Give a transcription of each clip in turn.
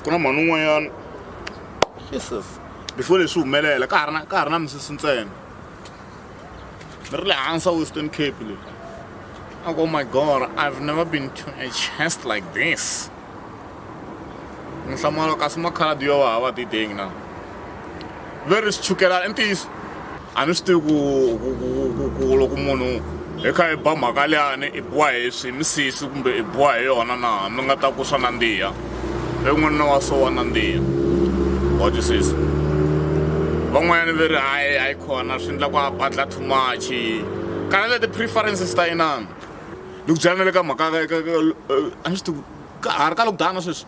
ku na mhani un'wanyana jesus before leswi humelela ka ha ri na ka ha ri na misisi ntsena ni ri le hansi a western cape leyi a ku oh my god i've never been to a chest like this ni hlamula kasi makhaladi yo va hava tidengi na ve ri swi chukela i ntiyiso a ni swi tivi ku ku ku ku ku loko munhu hi kha hi ba mhaka liyani i biwa hi swi misisi kumbe i biwa hi yona na mi nga ta ku swa nandziha i n'wanuna wa so wa nandziha wa twisisa van'wanyana ve ri hayi a yi khona swi endla ku a badla too much kana le ti-preferences ta inana ni ku byela na le ka mhaka a ni swi tivi ka ha ri ka lokudana sweswi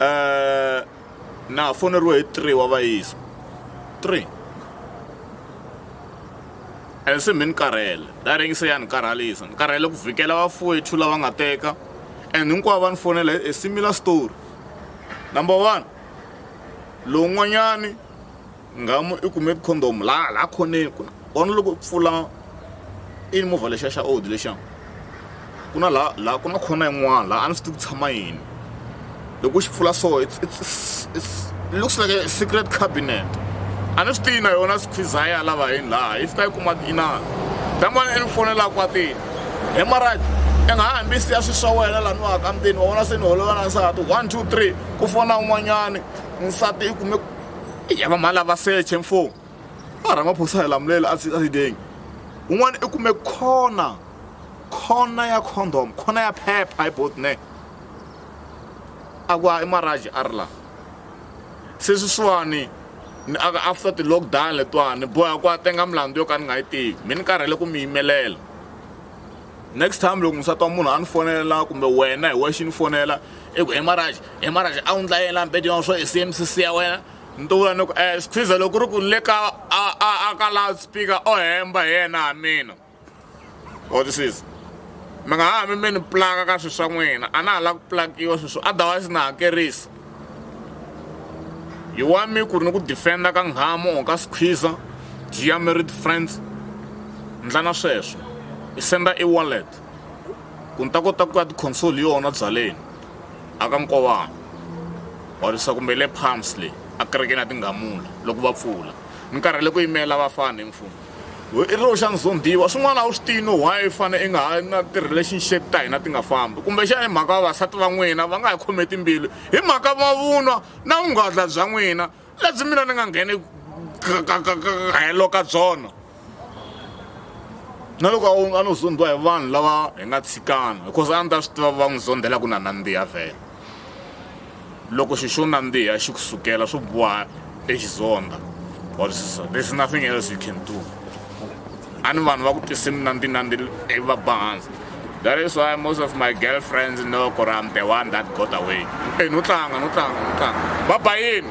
um na ha foneriwe hi three wa vayisa three and se mi ni karhele da ringise ya ni karhalisa ni karhele ku vhikela vafowethu lava nga teka and hinkwavo va ni fonela a similar story number one lowun'wanyani ngamu i kume condom laha laha khoneni ku vona loko u pfula i movha lexiya xa old lexiya ku na laha laha ku na khona yin'wana laha a ni swi tivi ku tshama yini loko u xi pfula so it's it's it's looks like a secret cabinet a ni swi tivi na yona squeeze ya lava yini laha yi fika yi kuma inana damani i ni fonela kwatini hi marad i nga ha hambi siya swi swa wena laha ni waka mutini wa vona se ni holovela nsati one two three ku fona un'wanyani nsati i kume ya va mhani lava seche mfo a ramaphosa hi lamulele a sideng un'wana i kume khona khona ya condom khona ya phepha hi bot ne a ku ha i maraji a ri la se sweswiwani ni aka after ti-lockdown letiwani boha ku a tenga milandzu yo ka ni nga yi tivi mi ni karhele ku mi yimelela next time loko musati wa munhu a ni fonela kumbe wena hi wexe ni fonela i ku emaraji emaraji a wu ndla yela mbedi wa swo i cmcc ya wena ni to vula ni ku um siphiza loko ri ku ni le ka a ka loud speaker o hemba hi yena ha mina or this is mi nga ha mi mi ni plaka ka swilo swa n'wina a na ha lava ku plakiwa sweswo otherwise na hakerisa hi wa mi ku ri ni ku defenda ka nghamu or ka squeezer dia married friends ndla na sweswo i senda i wallet ku ni ta kota ku ya ti-console yona byaleni a ka nkovana wa risa kumbe le palms leyi a kerekeni ya tinghamula loko va pfula ni karhele ku yimela vafana hi mfumo i ri xa ndzumbiwa swin'wana a wu swi tiyi no why fane i nga ha na ti-relationship ta hina ti nga fambi kumbexana hi mhaka vavasati va n'wina va nga hi khome timbilu hi mhaka mavunwa na vunghadla bya n'wina lebyi mina ni nga ngheni helo ka byona na loko a no zondhiwa hi vanhu lava hi nga tshikana because a ni ta swi tiva va n'wi zondhela ku na nandziha vhele loko xi xo nandziha xi ku sukela swo boha exizondha or so there's nothing else you can do a ni vanhu va ku tise minandzi nandzi ivi va ba hansi that is why most of my girlfriends know ku ri am the one that got away e no tlanga no tlanga no tlanga va ba yini